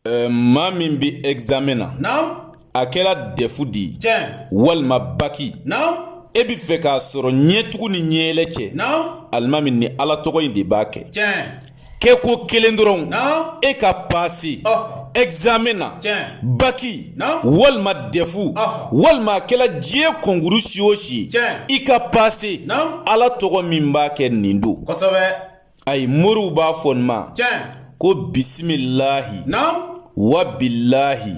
Euh, maa min bɛ examen na. Naamu. A kɛra dɛfu de ye. Tiɲɛ. Walima baki. Naamu. E bɛ fɛ k'a sɔrɔ ɲɛtugu ni ɲɛyɛlɛ cɛ. Naamu. Alimami nin ala tɔgɔ in de b'a kɛ. Tiɲɛ. kɛko kelen dɔrɔn. Naamu. E ka pase. Ɔhɔ. examen na baki walima dɛfu walima a kɛla diɲɛ kɔnkuru si o si i ka pase ala tɔgɔ min b'a kɛ nin don ayi moriw b'a fɔ nin ma ko bisimilahi wa bilahi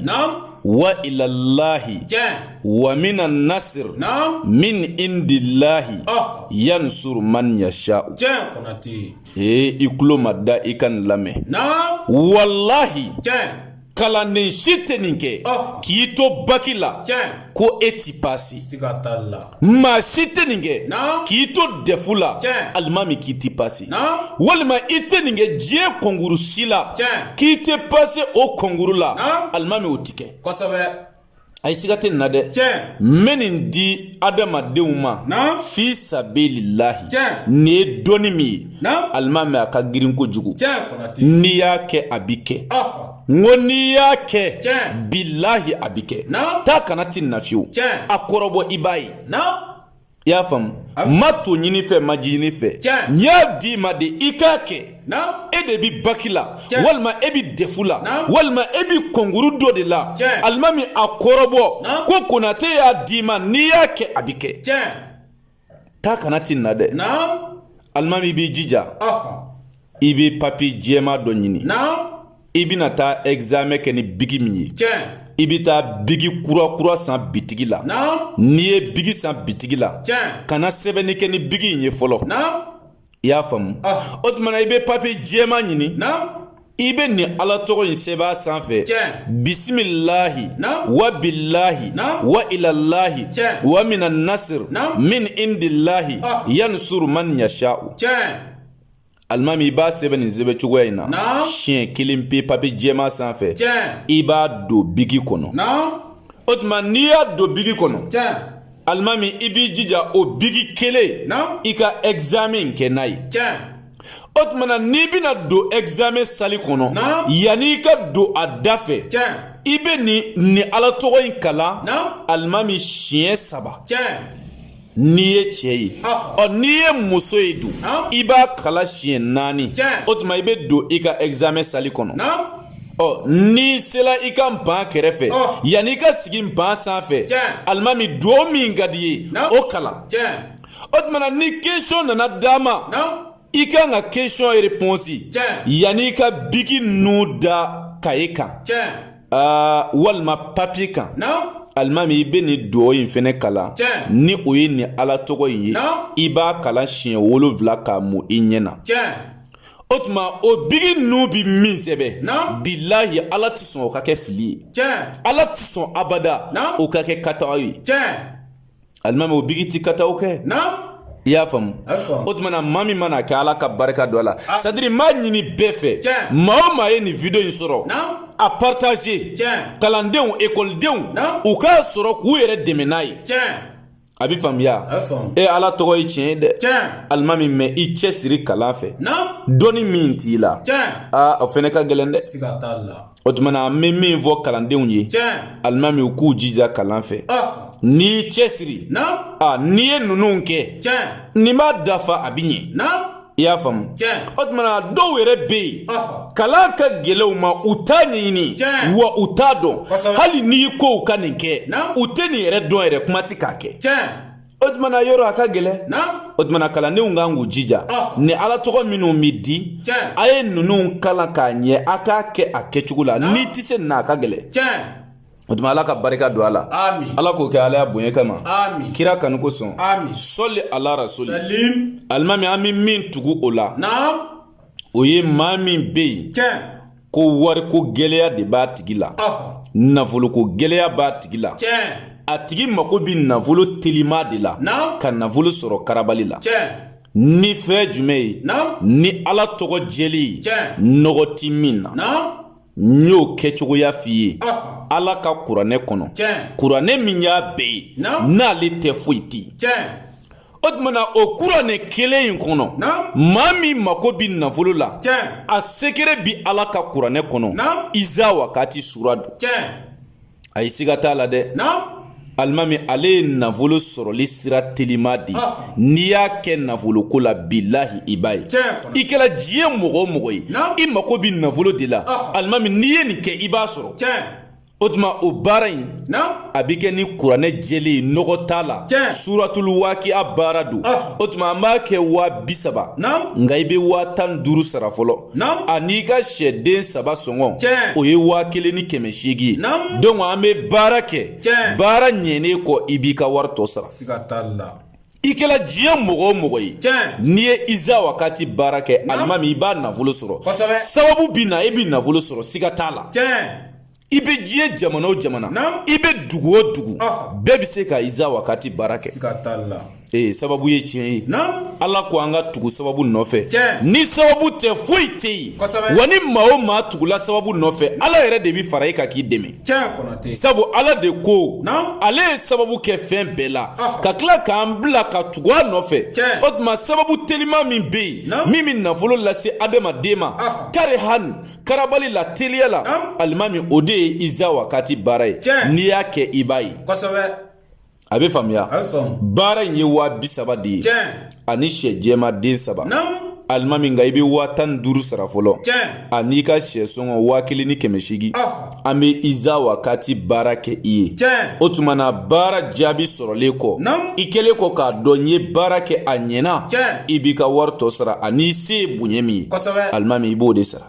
wa ilallahi wa mina nasir min indillahi oh. yansur man yasha'u ee i kulo mada i ka nin lamɛn walahi kalanden si tɛ nin kɛ k'i to baki la ko e ti pase maa si tɛ nin kɛ k'i to dɛfu la alimami k'i ti pase walima i tɛ nin kɛ diɲɛ kɔnkuru si la k'i tɛ pase o kɔnkuru la alimami o tɛ kɛ ayi siga tɛ nin na dɛ n bɛ nin di adamadenw ma fi sabililahi nin ye dɔnni min ye alimami a ka girin kojugu n'i y'a kɛ a bi kɛ n ko n'i y'a kɛ bilahi a bi kɛ taa ka na ti nin na fiyewu a kɔrɔbɔ i b'a ye i y'a faamu n ma to ɲin'i fɛ n ma ji ɲin'i fɛ n y'a d'i ma de i k'a kɛ e de bɛ baki la walima e bɛ dɛfu la walima e bɛ kɔnkuru dɔ de la alimami a kɔrɔbɔ ko konate y'a d'i ma n'i y'a kɛ a bɛ kɛ taa ka na ti nin na dɛ alimami b'i jija i bɛ papiye jɛman dɔ ɲini i bɛna taa examen kɛ ni biki min ye i bɛ taa biki kura kura san bitigi la n'i ye biki san bitigi la kana sɛbɛnni kɛ ni biki in ye fɔlɔ i y'a faamu o tuma na i bɛ papiye jɛman ɲini i bɛ nin ala tɔgɔ in sɛbɛn a sanfɛ bisimilahi wa bilahi wa ilallahi wa mina nasir min indillahi yansur man yasha'u alimami i b'a sɛbɛn nin sɛbɛn cogoya in na siɲɛ kelen pe papiye jɛman sanfɛ i b'a don bigi kɔnɔ o tuma n'i y'a don bigi kɔnɔ alimami i b'i jija o bigi kelen i ka examen kɛ n'a ye o tuma na n'i bɛna don examen sali kɔnɔ yanni i ka don a da fɛ i bɛ nin nin ala tɔgɔ in kalan alimami siɲɛ saba n'i ye cɛ ye ɔ n'i ye muso ye dun i b'a kalan siɲɛ naani o tuma i bɛ don i ka examen sali kɔnɔ ɔ n'i sela i ka ban kɛrɛfɛ yanni i ka sigi ban sanfɛ alimami dugawu min ka di i ye o kalan o tumana ni question nana d'a ma i kan ka question in réponse yanni i ka biki nun da kaye kan aa walima papiye kan alimami i bɛ nin dugawu in fɛnɛ kalan ni o ye nin ala tɔgɔ in ye i b'a kalan siɲɛ wolonfila k'a mun i ɲɛ na o tuma o biki nun bi min sɛbɛn bilahi ala tɛ sɔn o ka kɛ fili ye ala tɛ sɔn abada o ka kɛ kataw ye alimami o biki ti kataw kɛ i y'a faamu o tumana maa min mana a kɛ ala ka barika don a la ah. c'est-à-dire n b'a ɲini bɛɛ fɛ maa o maa ye nin video in sɔrɔ a partager kalandenw ekɔlidenw u k'a sɔrɔ k'u yɛrɛ dɛmɛ n'a ye a bɛ faamuya e ala tɔgɔ ye tiɲɛ ye dɛ alimami mais i cɛsiri kalan fɛ dɔnni min t'i la aa o fɛnɛ ka gɛlɛn dɛ o tumana an bɛ min fɔ kalandenw ye alimami u k'u jija kalan fɛ n'i cɛsiri n'i ye ninnu kɛ nin b'a dafa a bɛ ɲɛ i y'a faamu o tumana dɔw yɛrɛ bɛ yen kalan ka gɛlɛn u ma u t'a ɲɛɲini wa u t'a dɔn hali n'i ko u ka nin kɛ u tɛ nin yɛrɛ dɔn yɛrɛ kuma tɛ k'a kɛ o tumana yɔrɔ a ka gɛlɛn o tumana kalandenw kan k'u jija ah. ni ala tɔgɔ minnu bɛ di a ye ninnu kalan k'a ɲɛ a k'a kɛ a kɛcogo la n'i tɛ se nin na a ka gɛlɛn o tuma ala ka barika don a la ala k'o kɛ ala y'a bonya kama kira kanu kosɔn sɔli ala rasuli alimami an bɛ min tugu o la o ye maa min bɛ yen ko wariko gɛlɛya de b'a tigi la nafoloko gɛlɛya b'a tigi la a tigi mako bɛ nafolo telima de la ka nafolo sɔrɔ karabali la ni fɛn jumɛn ye ni ala tɔgɔ jɛlen nɔgɔ tɛ min na n y'o kɛcogoya f'i ye ala ka kuranɛ kɔnɔ kuranɛ min y'a bɛɛ ye n'ale tɛ foyi tɛ yen o tumana o kuranɛ kelen in kɔnɔ maa min mako bi nafolo la a sekere bi ala ka kuranɛ kɔnɔ iza wakati sura don a ye siga t'a la dɛ alimami ale ye nafolo sɔrɔli sira telima de ah. n'i y'a kɛ nafoloko la bilahi i b'a ye i kɛra diɲɛ mɔgɔ o mɔgɔ ye i mako bi nafolo de la ah. alimami n'i ye nin kɛ i b'a sɔrɔ o tuma o baara in a bɛ kɛ ni kuranɛ jɛlen ye nɔgɔ t'a la suratulu wakiya baara don ah. o tuma an b'a kɛ waa bi saba nka i bɛ waa tan ni duuru sara fɔlɔ an'i ka sɛden saba sɔngɔ o ye waa kelen ni kɛmɛ seegin ye donc an bɛ baara kɛ baara ɲɛnen kɔ i b'i ka wari tɔ sara i kɛla diɲɛ mɔgɔ o mɔgɔ ye n'i ye iza wakati baara kɛ alimami i b'a nafolo sɔrɔ sababu bɛ na i bɛ nafolo sɔrɔ siga t'a la i bɛ diɲɛ jamana o jamana i bɛ dugu o dugu bɛɛ bɛ se ka iza wakati baara kɛ ee sababu ye tiɲɛ ye ala ko an ka tugu sababu nɔfɛ ni sababu tɛ foyi tɛ yen wa ni maa o maa tugula sababu nɔfɛ ala yɛrɛ de bɛ fara i kan k'i dɛmɛ sabu ala de ko ale ye sababu kɛ fɛn bɛɛ la ah. ka tila k'an bila ka tugu a nɔfɛ o tuma sababu telima min bɛ yen min bɛ nafolo lase adamaden ma ah. kari hani karabali la teliya la alimami o de ye iza wakati baara ye n'i y'a kɛ i b'a ye a bɛ faamuya baara in ye waa bi saba de ye ani sɛ jɛma den saba alimami nka i bɛ waa tan ni duuru sara fɔlɔ an'i ka sɛ sɔngɔ waa kelen ni kɛmɛ seegin an bɛ iza wakati baara kɛ i ye o tuma na baara jaabi sɔrɔlen kɔ i kɛlen kɔ k'a dɔn n ye baara kɛ a ɲɛna i b'i ka wari tɔ sara an'i se ye bonya min ye alimami i b'o de sara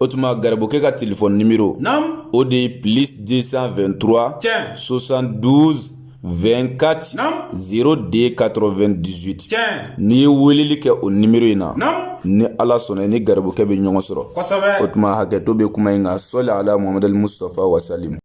o tuma garibukɛ ka telefɔni nimero o de ye plus 223 tiɲɛ 72 24 02 98 tiɲɛ n'i ye weleli kɛ o nimero in na ni ala sɔnna i ni garibukɛ bɛ ɲɔgɔn sɔrɔ o tuma hakɛto bɛ kuma in kan sɔli ala muhamadu musitafa wasalimu